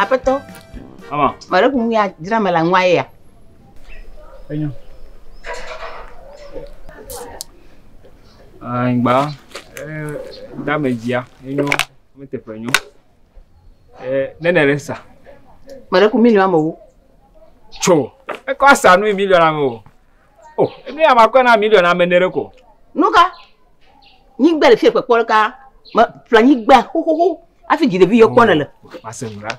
Aƒetɔ. Ama. Mare kun ya dzra me la nwa ya. Enyo. Angba. Eh, dame dzia. Enyo. Mete pe enyo. Eh, nene resa. Mare kun mi ni amewo. Tsɔ. Ekɔ asa nui miliɔn ame o. O, enu ya makɔe na miliɔn ame ne ɖe ko. Nu ka? Nyigba le fie kpekpɔ ɖeka. Me ƒle nyigba xoxoxo afi dziɖevi yɔ kpɔ ne le. Ase nu ɖa.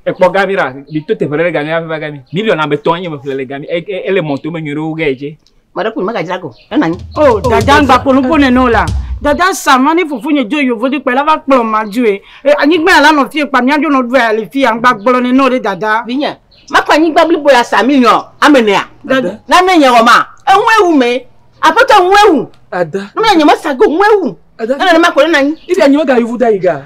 Ekpɔ gami ɖa. Mi to teƒe ɖe gami va ƒle gami. Miliɔn ame tɔn ye me ƒle le gami. E, e, ele mɔto me nyuie ɖe wo ge ye tse. Mɔɖe kun mega dzra go. Ena nyi. Oh, dada ngba kpolo po ne no la. Dada sama ne fufu nye jo yovo di kpela va kplɔ ma ju e. E anyigba la no fie kpa mia jo no dua ali fie angba gbolo ne no de dada. Vinye. Ma kwa nyigba blibo ya sami nyo amenea. Dada. Na ne nye woma. E nwe wu me. Apoto nwe wu. Ada. Nwe nye ma sago nwe wu. Ada. Ena ne ma kpolo na nyi. Ibi anyi mega yovo da iga.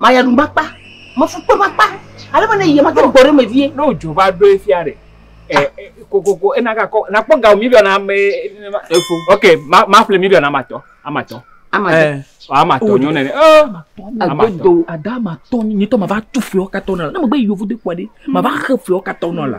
Maya nu makpa, mafu kpe makpa. Ale be ne yie mate gbɔ ɖe me vie. Ne wodzo va ɖo efia ɖe? Eh, eh, kokoko, ena gakɔ, nakpɔ ga mi biana me nenema. Efo. Ok, ma, ma ƒle mi biana matɔ, amatɔ. Amatɔ. Eh, amatɔ nyo nene. Oh, amatɔ. Ada amatɔ nyitɔ ma va tu fia katɔ na. Ne me gbe yovo de kwa de, ma va xe fia katɔ na la.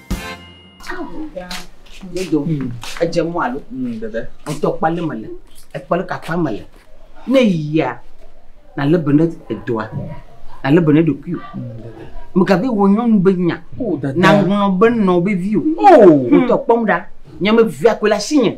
Dodo, edze mɔ alo? Mm, dede. Ŋutɔ kpali me le, ekpali kakpa me le. Ne yia, na le bene edoa, na le bene ɖokui. Mekabe wo nyɔnu be nya. Na ŋlɔ be nɔ be vi o. Ŋutɔ kpɔm ɖa, nyɔme via koe la si nye.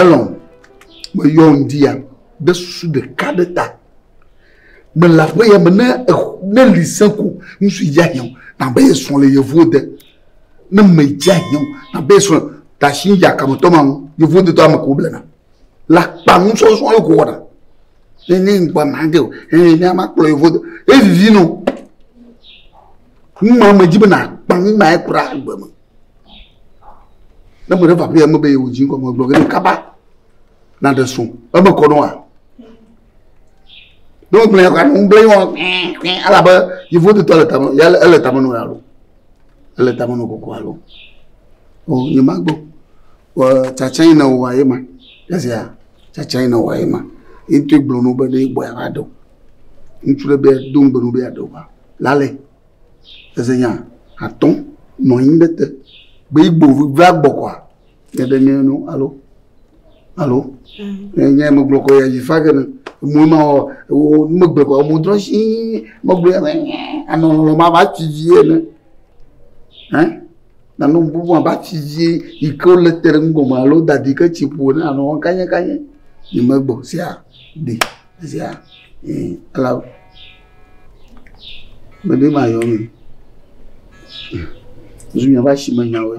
Elɔn, meyɔ ŋdi ya ɖe susu ɖeka ɖe ta. Mele aƒe ya me ne ne li se ko ŋsu ya hiã nabe esrɔ̃ le yevuwo de. Ne medze hiã nabe esrɔ̃ tashi ya kametɔ ma ŋu yevuwo de tɔ ame ko blena. le akpa nusɔsɔ ye ko wɔna ne ne ŋgba ma ge o ee ne ama kplɔ yevu evivi no numa me dzi be na akpa numa ye kura agbe me ne mo ɖe va ƒe me be yewu dzi kɔmɔ gblɔ ne kaba na ɖe so eme kɔ no wa ne wo gblɔ ka no gblɔ yi wɔn kpɛn kpɛn alabe yevu tutɔ le tame ya ele tame no ya lo ele tame no koko alo o nye ma gbɔ. Ɔ tsatsae na wò aye ma. Ezi a tsatsae na wò aye ma. Ye ŋutɔe gblɔ na wo be ɖe gbɔe ava ɖe wò. Ŋutsu ɖe be do ŋugbe na wo be yeaɖe wò va. Lale eze nya atɔ nɔ anyi ɖe te be yi gbɔ va gbɔ kɔa ne ɖe nye no alo alo ne nye megblɔ kɔ ya yi fa ke ne mo ma wɔ wo megbe kɔ mo drɔ si megblɔ ya anɔ lɔlɔ ma va tsi dzi ene. Hɛn, nane wò bubu abe atsi dzi yi ke wole te ɖe nugɔme alo woda ɖi ke tsi ƒo ne anɔ wɔm kanyɛkanyɛ. Yi me gbɔ sia ɖi sia ẽ ela me ɖe mayɔ me. Zu miaƒe asime nyawoe.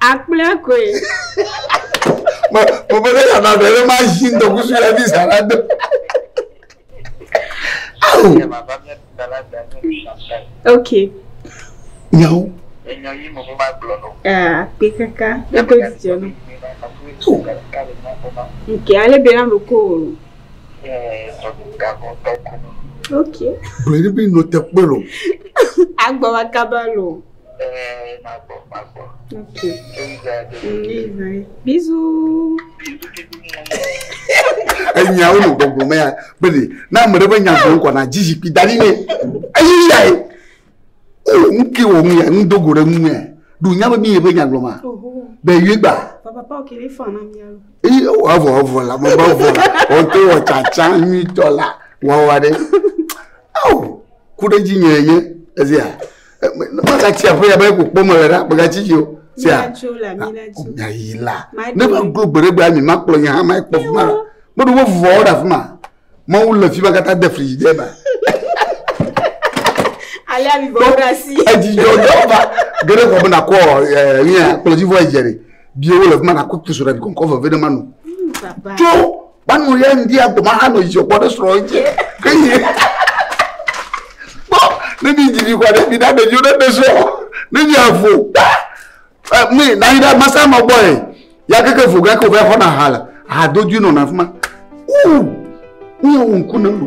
Akplẽ koe. Mo mo bɛ ne nana bɛ ne ma zi ŋdɔ kusu yɛ bi sa la do. Awo. Ok. Nyawo. Aa kpe kaka kpe kpe jijɔ no. Nke ale bɛ na lo ko. Okay. Bɛ̀rẹ̀ bí nɔ tẹ kpé lò. Agbɔ wa kaba lò. Ɛɛ ma gbɔ ma gbɔ. Okay. Bizu. Enya wo nɔ gbɔgbɔ mɛ ya bɛ̀rẹ̀ n'a mɛ ɖe bɛ nya gbɔ ŋkɔ na dzi zikpui da ɖi nɛ. Eyi ya ye. o oh, nu ke wɔ ŋuya nu dogo ɖe ŋuya ɖu nya be mi yeƒe nya gblɔma be yue gba eye woavɔ avɔ la mɔba vɔ la wɔto wɔ tsatsa nyuitɔ la wɔwa ɖe ao oh, ku ɖe dzi nyɛ ye ezia magatsi aƒe ya be ko kpɔ me le ɖa magatsi dzi o sia nya yi la ne ma glo gbe ɖe gbe ami ma kplɔ nya hã ma kpɔ fuma la meɖo wo vɔ ɖe afima Mawu le fi ma katã de fli de ma. Alea mi bɔ ɖe asi. Edzi dzɔ dzɔ va. Gere kɔ bena kɔ ɛ nia kplɔdzi vɔ edze ɖe. Bi wo le fi ma na kutu so ɖe bi kɔnkɔ veve ɖe ma nu. Tso banu ya ŋdi agbo ma hanɔ dzi kɔ ɖe srɔ edze. Ke yi. Kpɔ ne mi dzi mi kɔ ɖe mi na ɖeviwo ɖe ɖe srɔ. Ne mi avo. mi na yi ɖe masa ma gbɔ ye ya keke vo gake wòva xɔna ha le ha do dui nɔna afi ma uu wòye wò ŋku ne lu.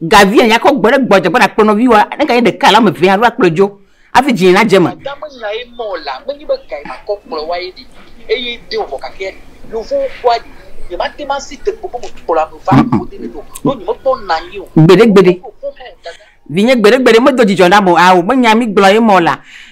Ga via nya kɔ gbɔɖe gbɔ dzegbɔ na kplɔ nɔvi wa ne ga yi ɖeka alo ame vea alo akplɔ dzo afi dzi na dze me. Adame nya ye mɔ la menyi be ga yi ma kɔ kplɔ wa ye ɖi eye de wɔ vɔ gake yovowo kpɔa ɖi nye ma te ma si tekpo be me kplɔ ame va ko de ne do ɖo nye me kpɔ na anyi o. Gbeɖe gbeɖe. Vinye gbeɖe gbeɖe me do dzidzɔ na mo a o me nya mi gblɔ ye mɔ la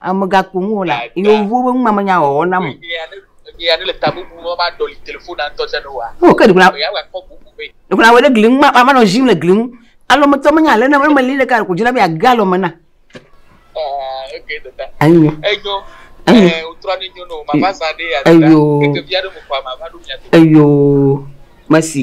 ame megakpɔ ŋu o la, yewowo ƒe numamenya wɔwɔ nam. O ke ɖegbla ɖegbla wɔ ɖe gli ŋu ma manɔ zim le gli ŋu. Alɔ metɔ menye ale na eme li ɖeka ko dzina be age alɔ me na. Enyo. Enyo. Enyo. Enyo. Mesi.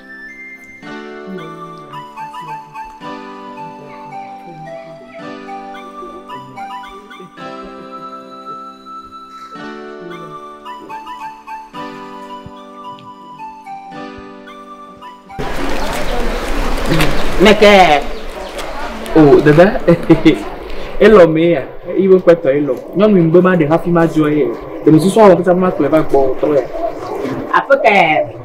Mekɛ. O dada elɔ mee ya iwe kpɛtɔ elɔ nyɔnu ŋgbe ma ɖe hafi ma dzɔ ye ɖemesusɔ wɔm pɛtɛ ma kplɔe va gbɔ tɔ ya. Aƒe ka ya?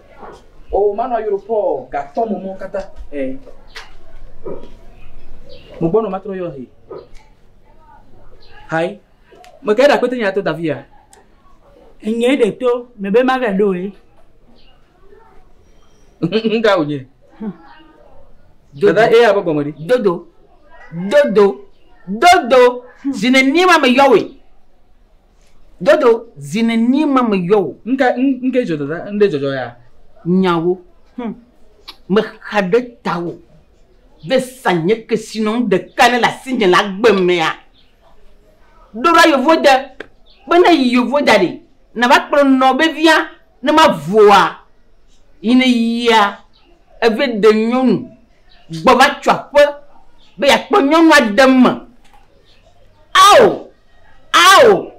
O manɔ ayoro pɔɔ gatɔ mo mɔ kata ɛ. Mo gbɔnɔ matrɔ yɔ he. Hai. Me kɛ da kpete nya to Davi ya. Enye de to me be ma ve do e. Nga o nye. Dada e ya bo gɔmɔ di. Dodo. Dodo. Dodo. Zine ni ma me yɔ we. Dodo, zi nenie ma meyɔ wò? Ŋke, ŋke dzɔ dada, ŋɖe dzɔdzɔ ya? Nyawo, hum, mexa ɖe tawò, be zã nye kesinɔnu ɖeka ne le asinye le agbe mea. Ɖo ɖa yovo de, be ne yi yovo da ɖe, nava kplɔ nɔ be via, ne ma vua, yi ne yia, eve de nyɔnu, gbɔ va tso aƒe, be ya kpɔ nyɔnua de me. Ao! Ao!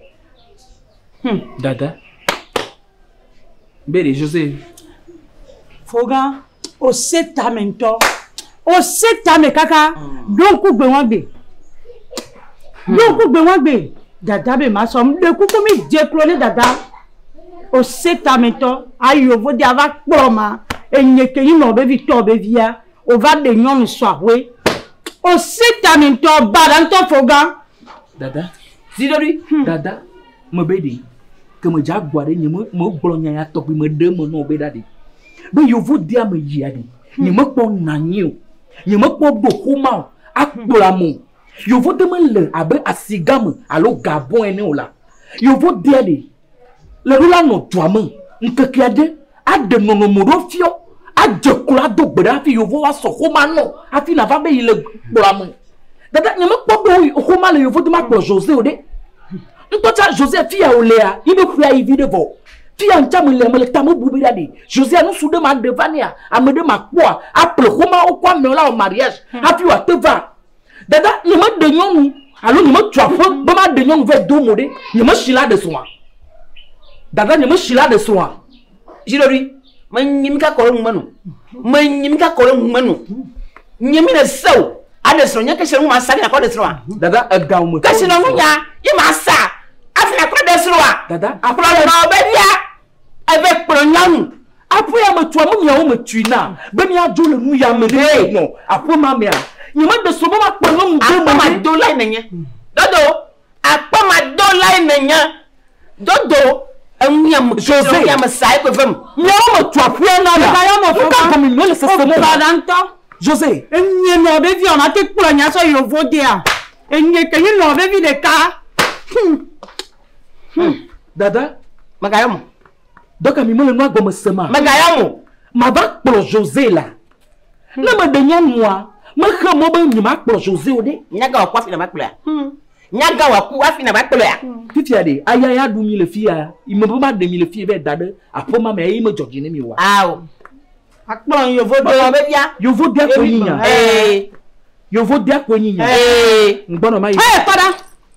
Hum, dada. Beri, José. Foga, o se tame ŋutɔ. O se tame kaka ɖo ŋku gbe wɔgbe. Ɖo hmm. ŋku gbe wɔgbe. Dada be ma sɔ ɖe kuku mi dze klo ne dada. O se tame ŋutɔ. Ayo vo de ava kplɔ ma. Enye ke yi nɔ be vi tɔ be via. O va de nyɔnu sɔ ahoe. O se tame ŋutɔ. Ba da ŋutɔ foga. Dada. Zi ɖe ɖi. Hmm. Dada. Me be ɖi. Ke me dza gua ɖe nye me me gblɔ nya ya tɔgbi me ɖe me nɔ be ɖa ɖi. Be yevu de ame yi ya ɖi. Nye me kpɔ nanyi o. Nye me kpɔ do xoma o. Akpla mo. Yevu de me le abe asigame alo gabon ene o la. Yevu de ɖi. Levi la nɔ dua me ŋkeke aɖe aɖe nɔnɔme ɖo fiɔ adze klo ado gbe ɖe hafi yewo va sɔ xoma nɔ hafi nava be yi le kplɔa me. Dada nyemekpɔ be xoma le yewo dome akplɔ Jose o ɖe. Ŋutɔ tsa Jose fi ya wòlea yi be ƒea yi vi ɖe vɔ. Fi ya ŋtsa melea mele ta me bu be ɖaɖe Jose nusu ɖe maɖe va nɛa ame ɖe makpɔa aƒle xomawo kɔ amewo la wɔ mariage hafi wòate va. Dada, nye me ɖe nyɔnu alo nye me tu aƒe be ma ɖe nyɔnu vɛ do mo ɖe. Nye me si la ɖe srɔ̃a. Dada, nye me si la ɖe srɔ̃a. Zi ɖe ɖi. Me nyi mi ka kɔ ɖe ŋu me nu. Me nyi mi ka kɔ ɖe ŋu me nu. Nye mi le se o. A ɖe srɔ̃ nye ke si la ŋu ma sa ne kɔ ɖe srɔ̃a. Dada, ega ŋu me. Ke si la ŋu nya ye ma sa. A fi na kɔ ɖe srɔ̃a. Dada, a fi na. Kplɔ nɔ be via. Eve kplɔ nyanu aƒea me tso ame miawo me tui na be miadzo le nu ya me ɖe nɔ aƒe ma mea nye me de so be ma kpɔ nyɔnu do me ma do lai nenye dodo akpɔ ma do lai nenye dodo enu ya me tso enu ya me sa ekwe vem miawo me tso aƒea na la ya no ka ko mi no le sese mo ba dan to Jose enye no be vi ona te kpɔ nya so yo vodea enye ke ni no be vi de ka hmm. Hmm. Dada, mègayɔ mo. Dɔka mi mele nua gɔme se ma. Mègayɔ mo. Mava kplɔ Jose la. Hmm. Ne meɖe nyɔnua, mexe mɔ be nyemakplɔ Jose o ɖe. Nyaga wòaku afi nàva kplɔea. Hmm. Nyaga wòaku afi nàva kplɔea. Fifia ɖe, aya ya ɖu mi le fia. Ime be maɖe mi le fia be da ɖe aƒema me eye medzɔ dzi ne mi wa. Ao. Akplɔ yovo do be bia. Yovo dia ko nyinya. Yovo dia ko nyinya. Ngbɔnɔ ma yi. Ee, tɔɖa.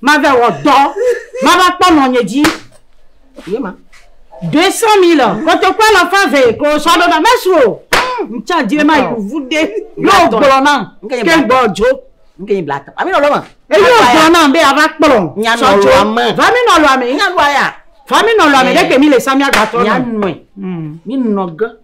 Mave wɔ dɔ, mava kpɔ nɔnye dzi. Ye ma. Deux cent mille, kotoku alafa eve ko sɔ ɖo na mesu o. Ŋtsa dze ma yi kuvu de. Yóò gblɔ na, ke gbɔ dzo. Ŋke yi bla tɔ. Ami nɔ lɔ ma. Eyi yóò gblɔ na be ava kplɔ. Nya nɔ lɔ ma. Va mi nɔ lɔ mi. Nya nɔ ya. Va mi nɔ lɔ mi ɖe ke mi le sa mi agba tɔ. Nya nɔe. Mi nɔ ge.